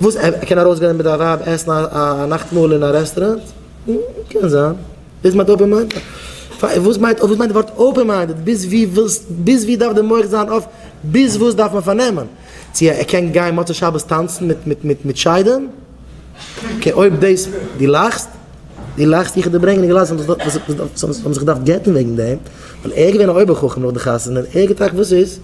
וואס? ער קען ארויסגיין מיט די ווייב עסן א נאכטמאהל אין א רעסטוראנט? קען זיין. ביז מ'האט אופען מיינד. וואס מיינט וואס מיינט די ווארט אופען מיינדעד? ביז ווי ווילסט ביז ווי דארף די מח זיין אויף? ביז וואס דארף מען פארנעמען? צו ער קען גיין מוצאי שבת טאנצן מיט מיט מיט מיט שדים? קע אויב דאס דו לאכסט? דו לאכסט איך דיר ברענגען די גלייזן וואס וואס וואס וואס האבן זיך געדארפט גט'ן וועגן דעם ווייל ער איז געווען א אויבער חכם נאך די חתונה ער האט געטראכט וואס איז?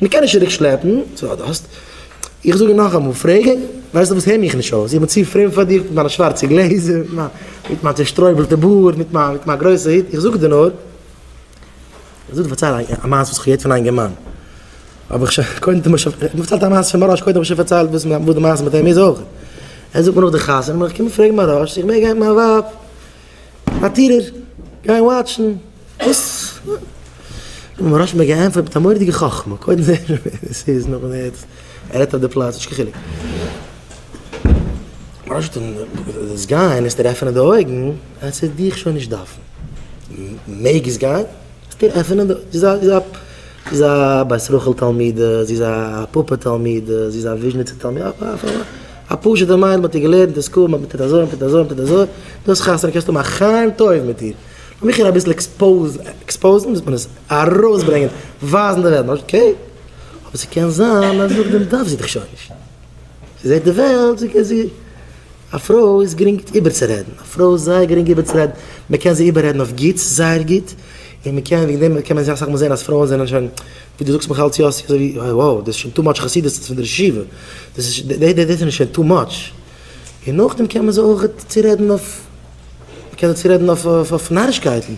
מען קען נישט צוריק שלעפן, סאו אז דו האסט. איך זאג נאכאמאל, פרעג אים, ווייסטו וואס הער מיך נישט אויס, איך בין צו פרום פאר דיר מיט מיינע שווארצע גלעזער, מיט מיין צושטרויבלטע בארד, מיט מיין גרויסע הוט, איך זאג דיר נאר, איך זאג דיר פארצייל א מעשה וואס איך האב געהערט פון א אינגערמאן, האב איך שוין קודם דעם שוין פארציילט א מעשה פון מרן, קודם האב איך שוין פארציילט וואס די מעשה מיט אים איז אויך, ער זאגט מיר נאך די חתונה, איך קום און פרעג מרן, איך מעג גיין מיט מיין ווייב? פארטירער, גיי וואטשן וואס ר' מרש מ געענטפערט מיט א מורא'דיגע חכמה, קודם זעהן מיר ווער עס איז, נאכדעם ווער עס ער רעדט אויף די פלאץ, נישט קיין חילוק. ר' מרש האט אים דאס גיין עס דיר עפענען די אויגן אז ס'וועט דיך שוין נישט דארפן, מעגסט גיין, עס דיר עפענען די אויגן, זי איז א זי איז א בית רחל תלמידה, זי איז א פאפא תלמידה, זי איז א וויזשניצע תלמידה, א פשוטע מיידל מען האט איר געלערנט אין סקול מען טוט אזוי מען טוט אזוי מען טוט אזוי, דאס חתונה קענסטו האבן א חיים טוב מיט איר, לאמיך איר אביסל עקספאוזן, ווי זאגט מען עס, ארויסברענגען, ווייזן די וועלט, אקעי, אבער ס'קען זיין אז נאכדעם דארף זי דיך שוין נישט, זי זעט די וועלט, זי קען זי, א פרוי איז גרינג איבערצורעדן, א פרוי איז זייער גרינג איבערצורעדן, מען קען זי איבעררעדן אויף גוטס, זייער גוט, און מען קען וועגן דעם קען מען זיך אסאך מאל זען אז פרויען זענען שוין. ווי דו זאגסט מיך אלץ יאסי אזוי ווי אה wow דאס איז שוין טו מאטש חסידות פון די רשיבה דאס איז דאס איז שוין טו מאטש און נאכדעם קען מען זיך אויך צורעדן אויף מ'קען זיך צורעדן אויף אויף נארישקייטן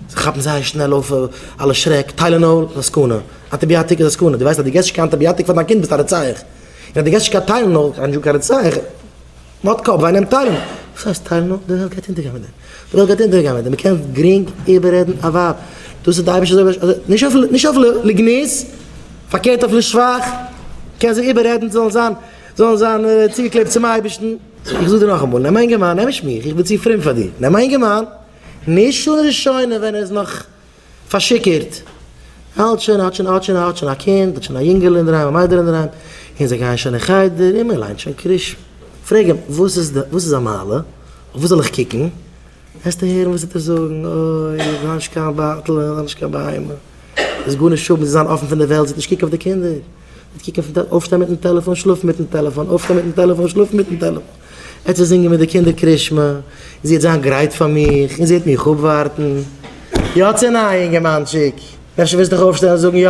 זיי כאפן זייער שנעל אויף אלע שרעק טיילענאל איז א סכנה אנטיביאטיק איז א סכנה דו ווייסט אז דו געסט נישט קיין אנטיביאטיק פאר דיין קינד ביסט א רוצח און אז דו געסט נישט קיין טיילענאל קיין דזשוק א רוצח. נאט קאפ וויי נעם טיילנאל. וואס הייסט טיילנאל? די וועלט גייט אונטערגיין מיט דעם. די וועלט גייט אונטערגיין מיט דעם. מ'קען גרינג איבעררעדן א ווייב. דאס איז די אייבישטער אזוי אזוי נישט אויף נישט אויף לגנות, פארקערט אויף לשבח. מ'קען זיי איבעררעדן זיי זאלן זיין זאלן זיין צוגעקלעבט צום אייבישטן. איך זאג דיר נאכאמאל, נעם א אינגערמאן, נעם נישט מיך, איך בין צו פרום פאר דיר, נעם א אינגערמאן, נישט אן רישיון ווען ער איז נאך פארשיכורט. האט שוין האט שוין האט שוין האט שוין א קינד, האט שוין א יונגעלע אינדערהיים, א מיידעל אינדערהיים, און זיי גייען שוין אין חדר, און מען ליינט שוין קריש. פרעג אים, וואס איז די, וואס איז א מעלה? אויף וואס זאל איך קוקן? וועסטו הערן וואס ער וועט זאגן, אוי, איך האב נישט קיין באטל, איך האב נישט קיין בהמה. דאס איז גארנישט האבן, זיי זיין אפן פון די וועלט, זיי נישט קוקן אויף די קינדער. נישט קוקן אויף די, אויפשטיין מיטן טעלעפאן, שלאפן מיטן טעלעפאן, אויפשטיין מיטן טעלעפאן, שלאפן מיטן טעלעפאן. ער צו זינגען מיט די קינדער קרישמע, און זי העט זיין גרייט פאר מיך, און זי העט מיך אפווארטן. יא צו ניין, אינגערמאנטשיק? אפשר וועסטו דיך אויפשטעלן און זאגן יא?